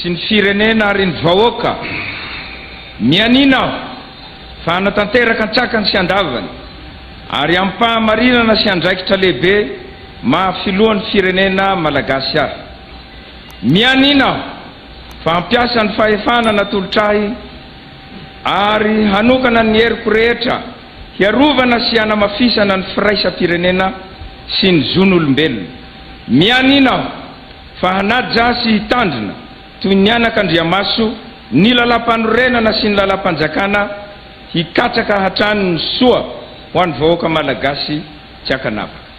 sy ny firenena ary ny vahoaka. Mianiana aho fa hanatanteraka an-tsakany sy an-davany ary amim-pahamarinana sy andraikitra lehibe maha filohan'ny firenena Malagasy ahy. Mianiana aho fa hampiasa ny fahefana natolotra ahy ary hanokana ny heriko rehetra hiarovana sy hanamafisana ny firaisam-pirenena sy ny zon'olombelona. Mianiana aho. Fa hanaja sy hitandrina toy ny anaka andriamaso ny Lalàmpanorenana sy ny Lalàmpanjakana hikatsaka hatrany ny soa ho an'ny vahoaka Malagasy tsy ankanavaka.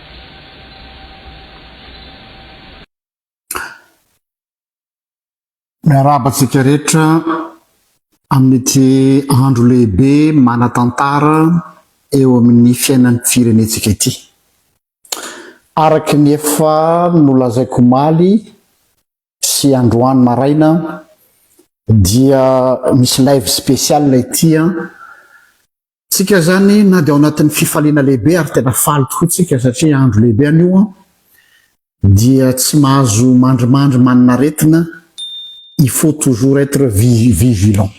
Miarahaba antsika rehetra amin'ity andro lehibe manan-tantara eo amin'ny fiainan'ny firenentsika ity. Araka ny efa nolazaiko omaly sy androany maraina dia misy live spécial ity an, Tsika zany na de ao anatin'ny fifaliana lehibe ary tena faly tokoa tsika satria andro lehibe anio an, dia tsy mahazo mandrimandry maninaretina, il faut toujours être vigilant.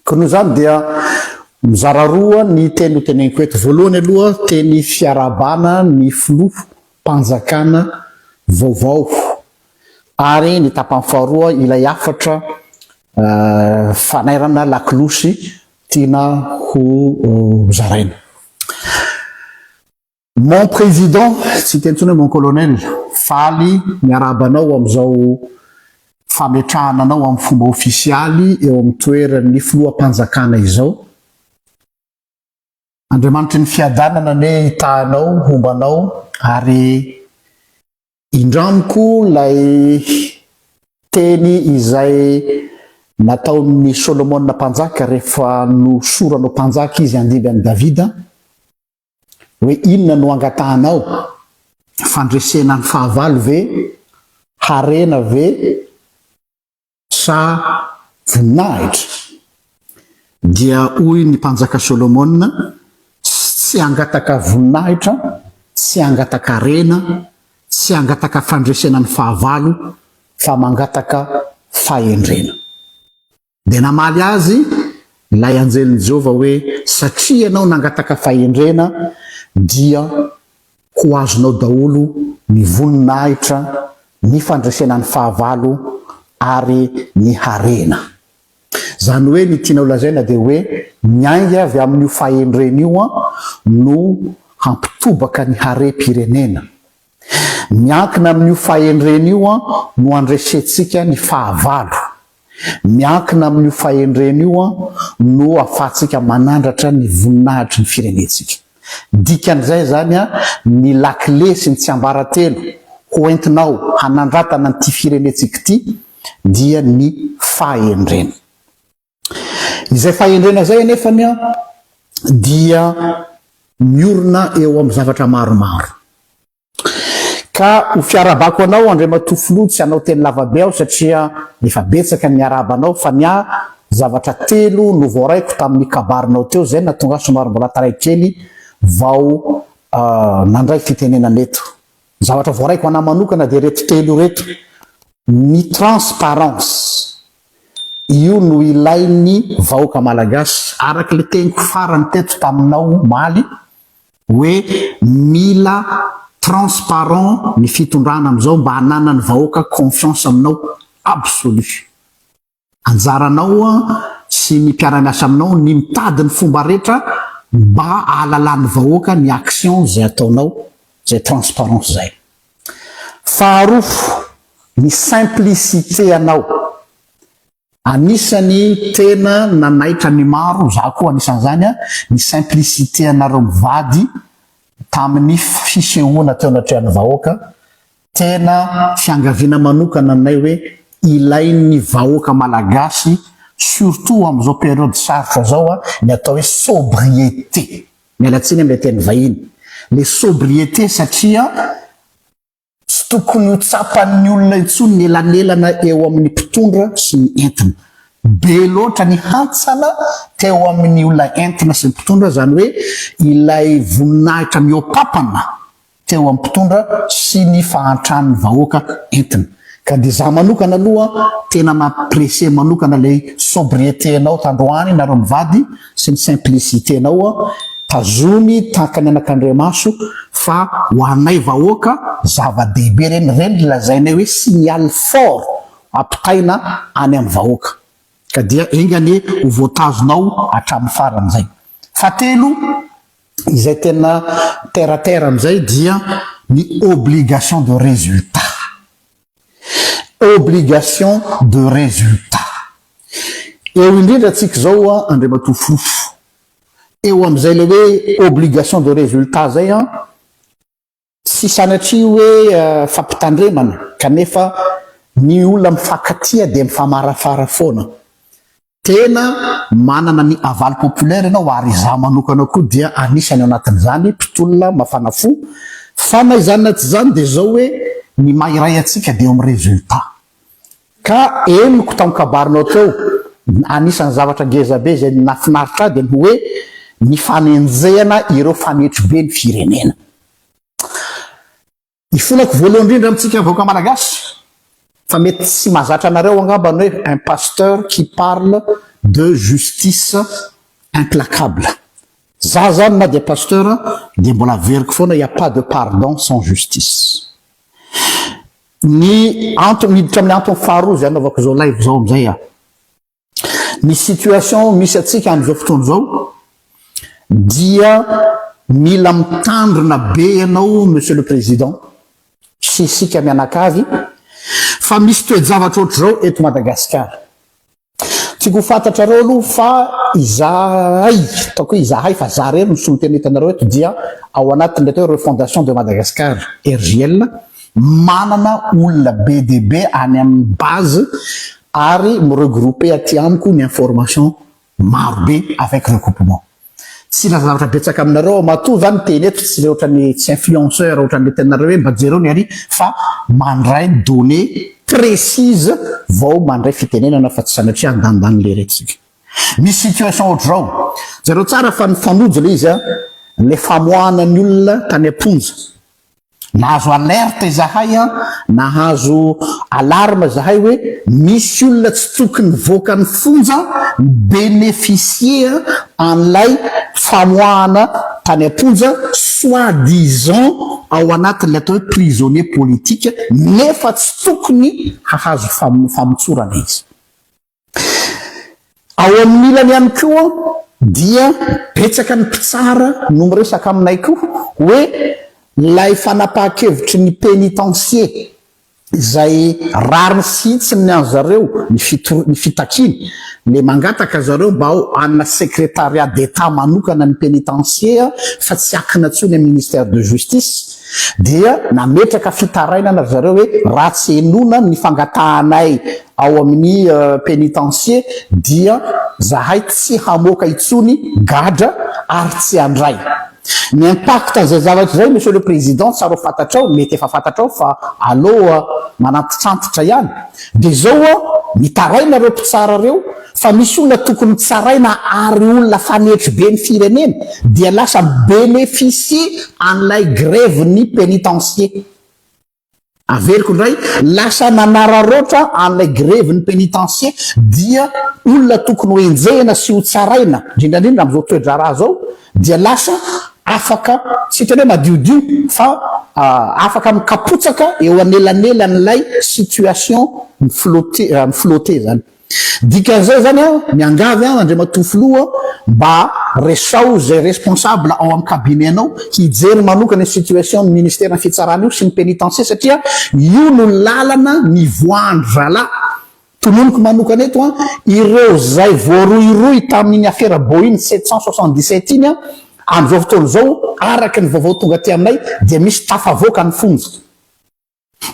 Koa noho izany dia mizara roa ny teny ho teneniko eto. Voalohany aloha teny fiarahabana ny filoha mpanjakana vaovao ary ny tapany faharoa ilay hafatra fanairana lakolosy Tiana ho zaraina. Mon Président, tsy hiteny intsony hoe Mon Colonel, faly miarahaba anao amin'izao fametrahana anao amin'ny fomba ofisialy eo amin'ny toeran'ny Filoham-panjakana izao. Andriamanitry ny Fiadanana anie hitaha anao, homba anao ary Indramiko ilay teny izay nataon'i Solomona mpanjaka rehefa nosorany ho mpanjaka izy handimby an'i Davida hoe inona no angatahanao? Fandresena ny fahavalo ve? Harena ve? sa voninahitra? Dia hoy ny Mpanjaka Solomona, Tsy hangataka voninahitra, tsy hangataka harena, tsy hangataka fandresena ny fahavalo, fa mangataka fahendrena. Dia namaly azy ilay anjelin'i Jehovah hoe, Satria ianao nangataka fahendrena, dia Ho azonao daholo ny voninahitra, ny fandresena ny fahavalo ary ny harena. Izany hoe ny tianao lazaina dia hoe ny ainga avy amin'io fahendrena io no hampitobaka ny harem-pirenena. Miankina amin'io fahendrena io no handresentsika ny fahavalo. Miankina amin'io fahendrena io no ahafahantsika manandratra ny voninahitry ny firenentsika. Dikan'izay izany ny lakile sy ny tsiambaratelo ho entinao hanandratana an'ity firenentsika ity dia ny fahendrena. Izay fahendrena izay anefa dia miorina eo amin'ny zavatra maromaro. Ka ho fiarahabako anao Andriamatoa Filoha tsy hanao teny lavabe aho satria efa betsaka ny niarahaba anao fa ny ahy zavatra telo no voaraiko tamin'ny kabarinao teo izay no nahatonga ahy somary mbola taray kely vao nandray fitenenana eto. Ny zavatra voaraiko an'ahy manokana dia ireto telo ireto, ny transparence io no ilain'ny vahoaka malagasy araka ilay teniko farany teto taminao omaly, hoe mila transparent ny fitondrana amizao mba hananany vahoaka confiance aminao absolu. Anjaranao sy ny mpiaramiasa aminao ny mitady ny fomba rehetra mba ahalalan'ny vahoaka ny action zay ataonao zay transparence zay. Faharoa, ny simplicite anao. Anisany tena nanaitra ny maro, za koa anisan'izany a, ny simplicité anareo mivady tamin'ny fisehoana teo anatrehan'ny vahoaka, tena fiangaviana manokana anay hoe ilain'ny vahoaka malagasy surtout amin'izao période sarotra zao a, ny atao hoe sobriété, miala tsiny amle teny vahiny, le sobriété satria. Tsy tokony ho tsapan'ny olona intsony ny elanelana eo amin'ny mpitondra sy ny entina. Be loatra ny hantsana teo amin'ny olona entina sy ny mpitondra, izany hoe ilay voninahitra mihoapapana teo amin'ny mpitondra sy ny fahantran'ny vahoaka entina. Ka dia za manokana aloha tena mampiresser manokana ilay sobriété-nao tandroany nareo mivady, sy ny simplicité nao an, tazomy tahaka ny anakandriamaso fa ho anay vahoaka zava dehibe ireny, ireny ry lazainay hoe signal fort ampitaina any amin'ny vahoaka ka dia enga anie ho voatazonao hatramin'ny farany izay. Fahatelo, izay tena terre à terre amin'izay dia ny obligation de résultat. Obligation de résultat. Eo indrindra antsika izao an, Andriamatoa Fofo, eo amin'izay ilay hoe obligation de résultat izay an, tsy sanatria hoe fampitandremana kanefa ny olona mifankatia dia mifamarafara foana. Tena manana ny aval populaire ianao ary izaho manokana koa dia anisany ao anatin'izany, mpitolona, mafana fo, fa na izany na tsy izany dia izao hoe ny maha iray antsika dia eo amin'ny résultat. Ka henoko tamin'ny kabarinao teo, anisan'ny zavatra ngezabe izay nafinaritra ahy dia ny hoe ny fanenjehana ireo fanetry be ny firenena. Ifonako voalohany indrindra amintsika vahoaka malagasy fa mety tsy mazatra anareo angamba ny hoe un pasteur qui parle de justice implacable. Za zany na dia pasteur dia mbola averiko foana il n'y a pas de pardon sans justice. Ny antony miditra amin'ny antony faharoa izay anaovako izao live izao amin'izay aho. Ny situation misy antsika amin'izao fotoana izao dia mila mitandrina be ianao Monsieur le Président sy isika mianakavy fa misy toe-javatra ohatr'izao eto Madagasikara. Tiako ho fantatrareo aloha fa izahay, ataoko hoe izahay fa za irery no solontenina hitanareo eto dia ao anatin'ny atao hoe Refondation de Madagascar, RJL, manana olona be dia be any amin'ny base ary mi regrouper aty amiko ny information maro be avec recoupement tsy hilaza zavatra betsaka aminareo aho matoa za miteny eto tsy le otrany tsy influenceur otrany le tenanareo hoe mba jereo ny ary fa mandray données précise vao mandray fitenenana fa tsy sanatria andanindany le rehatsika misy situation otrzao jereo tsara fa nifanojo le izy a le famoahana ny olona tany amponja Nahazo alerte izahay an, nahazo alarme izahay hoe misy olona tsy tokony hivoaka ny fonja mi beneficier an'ilay famoahana tany am-ponja soit disant ao anatin'ilay atao hoe prisonnier politique nefa tsy tokony hahazo famotsorana izy. Ao amin'ny ilany ihany koa dia betsaka ny mpitsara no miresaka aminay koa hoe ilay fanapahan-kevitry ny pénitencier izay rariny sy hitsiny ny an'i zareo ny fitakiany le mangataka zareo mba ao ana secrétariat d'état manokana ny pénitencier fa tsy akina tsony amin'ny ministère de justice dia nametraka fitarainana ry zareo hoe raha tsy enona ny fangatahanay ao amin'ny penitencier dia zahay tsy hamoaka intsony gadra ary tsy handray ny impact an'izay zavatra izay monsieur le président tsara ho fantatrao mety efa fantatrao fa aloha manantitrantitra ihany dia izao an mitaraina ireo mpitsara ireo fa misy olona tokony tsaraina ary olona fanetry be ny firenena dia lasa mi-bénéficier an'ilay grève ny penitencier Averiko indray, lasa nanararaotra an'ilay grevy ny pénitencier dia olona tokony ho enjehina sy ho tsaraina, indrindra indrindra amin'izao toe-draharaha izao dia lasa afaka, tsy hitan'ny hoe madiodio fa afaka mikapotsaka eo anelanelan'ilay situation mi-flotter, mi-flotter izany. Dikan'izay zany an, miangavy an, Andriamatoa Filoha mba resaho izay responsable ao amin'ny cabinet anao hijery manokana io situation ny ministère ny fitsarana io sy ny pénitencier satria io no lalana nivoahan-dry zalahy tononiko manokana eto an, ireo izay voarohirohy tamin'iny afera Boeing sept cent soixante dix sept iny an, amin'izao fotoana izao araka ny vaovao tonga aty aminay dia misy tafavoaka ny fonja.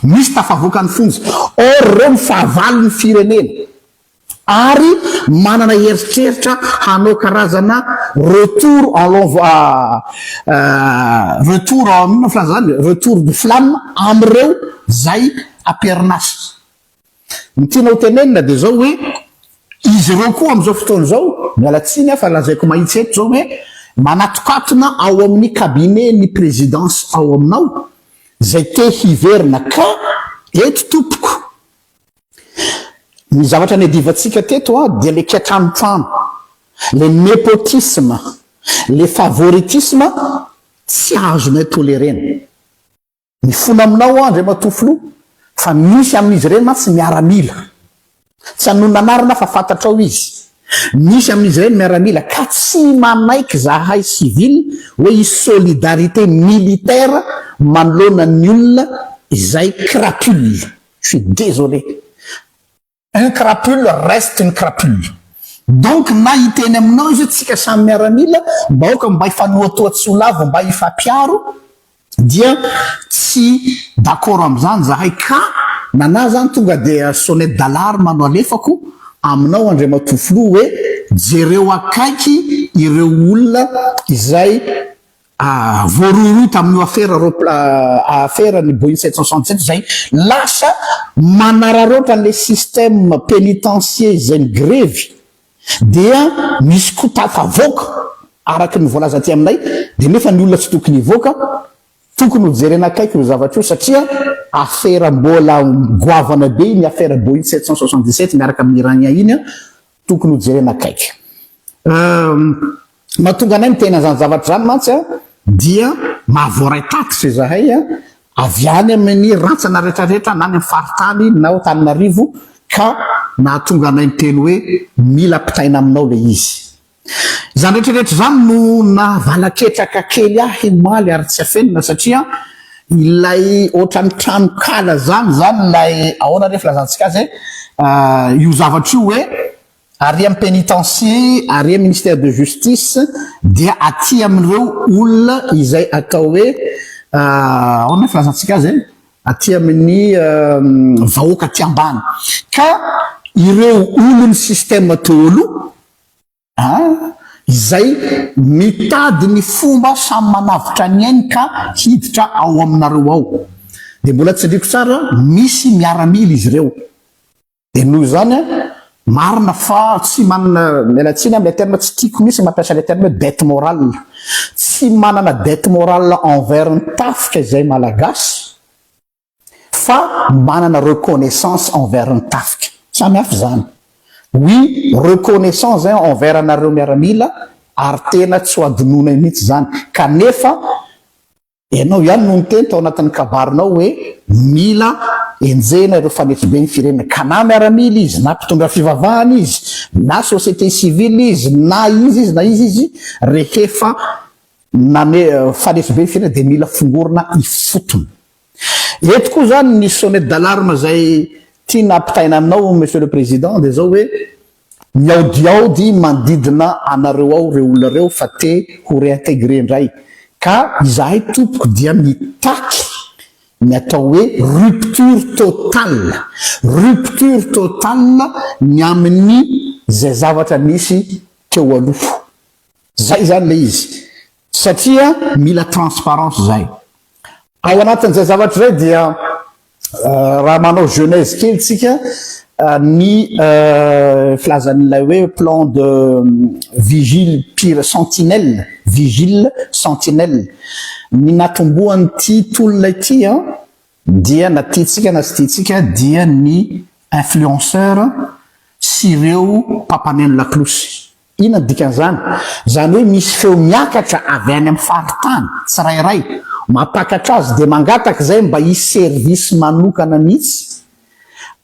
Misy tafavoaka ny fonja, or ireo no fahavalo ny firenena ary manana heritreritra hanao karazana retour en lonv ah retour en inona filaza zany retour de flamme amireo zay aperinazy Ny tiana ho tenenina dia izao hoe, izy ireo koa amin'izao fotoana izao, miala tsiny aho fa lazaiko mahitsy eto izao hoe, manatokatona ao amin'ny cabinet-n'ny présidence ao aminao izay te hiverina ka eto tompoko, ny zavatra niadivantsika teto dia ilay kiatranotrano, ilay népotisme, ilay favoritisme tsy azonay tolérer-na. Mifona aminao aho Andriamatoa Filoha fa misy amin'izy ireny mantsy miaramila. Tsy hanonona anarana aho fa fantatrao izy. Misy amin'izy ireny miaramila ka tsy manaiky zahay civil hoe hisy solidarité militaire manoloana ny olona izay crapule. Je suis désolé. Un crapule reste une crapule. Donc na hiteny aminao izy hoe tsika samy miaramila mba aoka mba hifanohatoha tsy ho lavo mba hifampiaro dia tsy d'accord amin'izany zahay ka nana zany tonga dia sonnette d'alarme no alefako aminao Andriamatoa Filoha hoe jereo akaiky ireo olona izay voarohirohy tamin'io afera ropla afera ny Boeing sept cent soixante sept izay lasa manararaotra an'ilay système pénitencier izay migrevy dia misy koa tafavoaka araka ny voalaza aty aminay dia nefa ny olona tsy tokony hivoaka tokony ho jerena akaiky io zavatra io satria afera mbola goavana be iny afera Boeing sept cent soixante dix sept miaraka amin'ny Iranien iny Tokony ho jerena akaiky. Ny mahatonga anay miteny an'izany zavatra izany mantsy dia maha voaray tatitra izahay avy any amin'ny rantsana rehetra rehetra na any amin'ny faritany na ao Antananarivo ka nahatonga anay miteny hoe mila ampitaina aminao ilay izy. Izany rehetra rehetra izany no naha-vala-ketraka kely ahy omaly ary tsy afenina satria Ilay ohatran'ny tranonkala zany zany ilay ahoana re filazantsika azy eh? io zavatra io hoe ary amin'ny pénitencier ary amin'ny ministère de justice dia aty amin'ireo olona izay atao hoe ahoana ny filazantsika azy eh? aty amin'ny vahoaka aty ambany ka ireo olon'ny système daholo An! Izay mitady ny fomba samy manavotra ny ainy ka hiditra ao aminareo ao. Dia mbola tsindriako tsara, misy miaramila izy ireo. Dia noho izany an, marina fa tsy manana, miala tsiny amin'ilay terme, tsy tiako mihitsy ny mampiasa ilay terme hoe dette morale. Tsy manana dette morale envers ny tafika izay Malagasy. fa manana reconnaissance envers ny tafika. Samy hafa izany. Oui, reconnaissant zay envers anareo miaramila ary tena tsy ho adinonay mihitsy izany. Kanefa ianao ihany no niteny tao anatin'ny kabarinao hoe mila enjehina ireo fanefobe ny firenena. Ka na miaramila izy, na mpitondra fivavahana izy, na société civile izy, na izy izy, na izy izy, rehefa Na ny faneso be fiainana dia mila fongorina ifotony. Eto koa izany ny sonnette d'alarme izay tiana ampitaina aminao Monsieur le Président dia izao hoe, miaodiaody manodidina anareo ao ireo olona ireo fa te ho réintégrer indray. Ka izahay tompoko dia mitaky ny atao hoe rupture totale, rupture totale ny amin'ny izay zavatra nisy teo aloha. Zay zany le izy satria mila transparence zay. Ao anatin'izay zavatra zay dia raha manao genèse kely tsika ny filazan'ilay hoe plan de vigile pire sentinelle vigile sentinelle ny natombohan'ity tolona ity an dia na tiantsika na tsy tiantsika dia ny influenceur sy ireo mpampaneno laklosy. Inona no dikan'izany? Izany hoe misy feo miakatra avy any amin'ny faritany tsirairay mampiakatra azy dia mangataka izay mba hisy service manokana mihitsy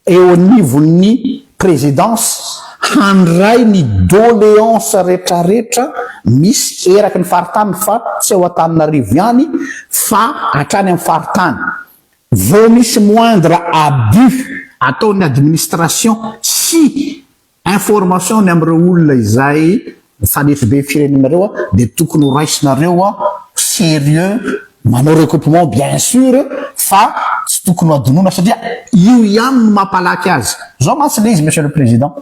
eo anivon'ny Présidence handray ny doléances retraretra misy eraky ny faritany fa tsy ao Antananarivo ihany fa hatrany amin'ny faritany vao misy moindre abus ataon'ny administration sy Information ny amin'ireo olona izay mifanefy be firenenareo dia tokony ho raisinareo serieux manao recoupement bien sur fa tsy tokony ho adinoina satria io ihany no mampalaky azy zao mantsy le izy monsieur le président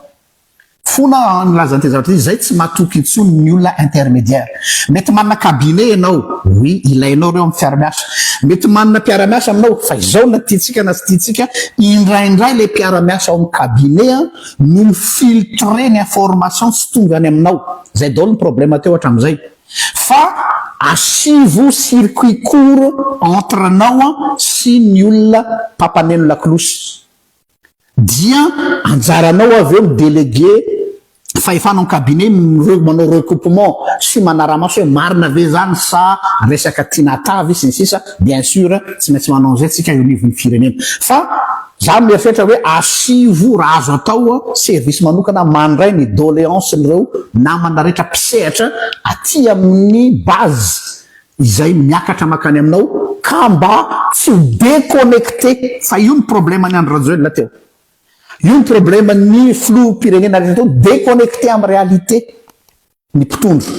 fona nilaza an'ity zavatra ity zay tsy matoky intsony ny olona intermédiaire mety manana cabinet ianao oui ilainao ireo amin'ny fiaramiasa mety manana mpiaramiasa aminao fa izao na tiantsika na tsy tiantsika indraindray le mpiaramiasa ao amin'ny cabinet no mi filtrer ny information tsy tonga any aminao, zay daolo ny problème teo hatramizay fa asivo circuit court entre anao sy ny olona mpampaneno lakolosy dia anjaranao avy eo mi deleguer fahefana ao cabinet ny manao recoupement sy manaramaso hoe marina ve zany sa resaka tiana hatavy sy ny sisa, bien sur tsy maintsy manao anzay tsika eo anivon'ny firenena fa. Za mieritreritra hoe asivo raha azo atao service manokana mandray ny doleance n'ireo namana rehetra mpisehatra aty amin'ny base izay miakatra makany aminao ka mba tsy ho deconnecte fa io ny problème an'i Andry Rajoelina teo io ny problème an'ny filoham-pirenena rehetra teo deconnecte amin'ny réalité ny mpitondra.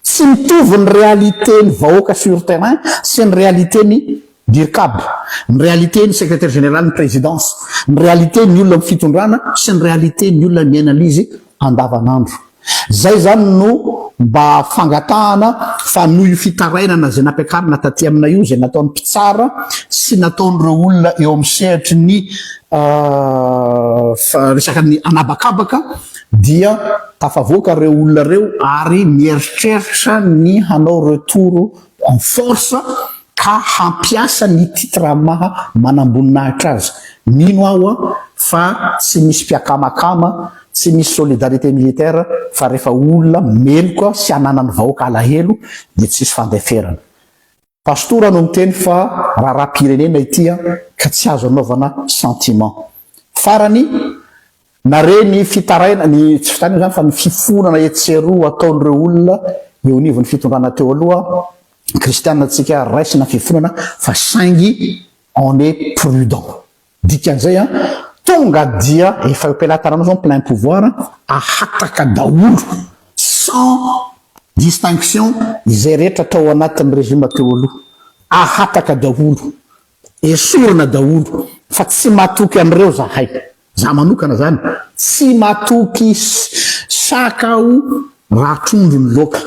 Tsy mitovy ny réalité ny vahoaka sur terrain sy ny réalité ny Dircab, ny réalité ny Secrétaire général ny Présidence, ny réalité ny olona amin'ny fitondrana sy ny réalité ny olona miaina lzy andavanandro. Zay zany no mba fangatahana fa noho io fitarainana zay nampiakarina taty aminay io zay nataon'ny mpitsara sy nataon'ireo olona eo amin'ny sehatry ny resaka ny anabakabaka, dia tafavoaka ireo olona ireo ary mieritreritra ny hanao retour en force ka hampiasa ny titre maha manamboninahitra azy. Mino aho fa tsy misy mpiakamakama, tsy misy solidarité militaire fa rehefa olona meloka sy hananan'ny vahoaka alahelo dia tsisy fandeferana. Pastora no niteny fa raharaham-pirenena ity an, ka tsy azo anaovana sentiment. Farany, nare ny fitaraina, ny tsy fitaraina izany fa ny fifonana etsy sy eroa ataon'ireo olona eo anivon'ny fitondrana teo aloha, kristiana tsika, raisina ny fifonana fa saingy on est prudent. Dikan'izay an, tonga dia efa eo am-pelatananao zao ny plein pouvoir ahataka daholo sans distinction izay rehetra tao anatin'ny régime teo aloha. Ahataka daholo, esorina daholo fa tsy matoky an'ireo zahay. Za manokana zany tsy matoky saka aho raha trondro ny loaka.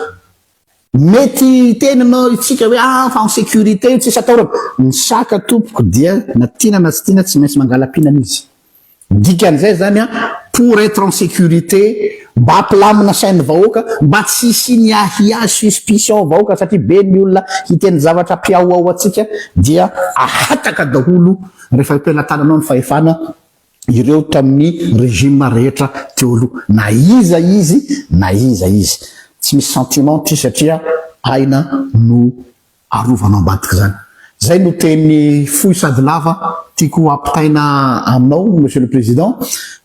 Mety hiteny ianao isika hoe ah fa en sécurité io tsisy atahorana. Ny saka tompoko dia na tiana na tsy tiana tsy maintsy mangala-pihinana izy. Dikan'izay izany an, pour être en sécurité, mba hampilamina sain'ny vahoaka, mba tsy hisian'ny ahiahy, suspicion ao vahoaka satria be ny olona hiteny zavatra hampihaohao antsika dia ahataka daholo rehefa eo am-pelatananao ny fahefana, ireo tamin'ny régime rehetra teo aloha na iza izy na iza izy tsy misy sentiment ty satria aina no arovanao ambadika zany zay no teny fohy sady lava tiako hampitaina aminao monsieur le président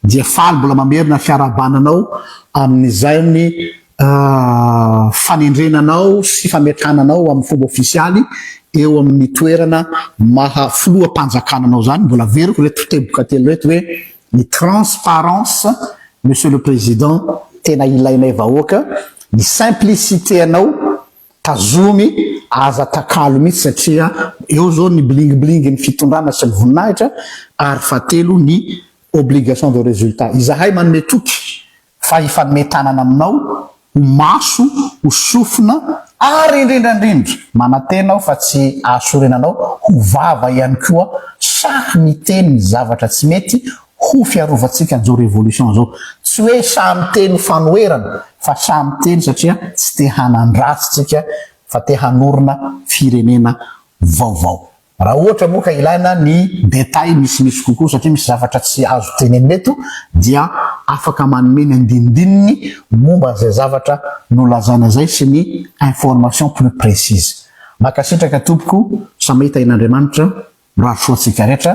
dia faly mbola mamerina fiarahabana anao amin'izany a fanendrena anao sy fametrahana anao amin'ny fomba ofisialy eo amin'ny toerana maha filoham-panjakana anao izany, mbola averiko ireto teboka telo ireto hoe ny transparence Monsieur le Président tena ilainay vahoaka, ny simplicité anao tazomy aza takalo mihitsy satria eo izao ny bling bling ny fitondrana sy ny voninahitra ary fahatelo ny obligation de résultat. Izahay manome toky Fa hifanome tanana aminao, ho maso, ho sofina, ary indrindra indrindra, manantena aho fa tsy hahasorena anao ho vava ihany koa sahy miteny ny zavatra tsy mety ho fiarovantsika an'izao révolution izao. Tsy hoe sahy miteny fanoherana, fa sahy miteny satria tsy te hanan-dratsy tsika, fa te hanorina firenena vaovao. Raha ohatra moa ka ilaina ny détails misimisy kokoa satria misy zavatra tsy azo tenenina eto dia afaka manome ny andinindininy momba an'izay zavatra nolazaina izay sy ny information plus précise. Mankasitraka tompoko, samy hahita ain'Andriamanitra, mirary soa antsika rehetra.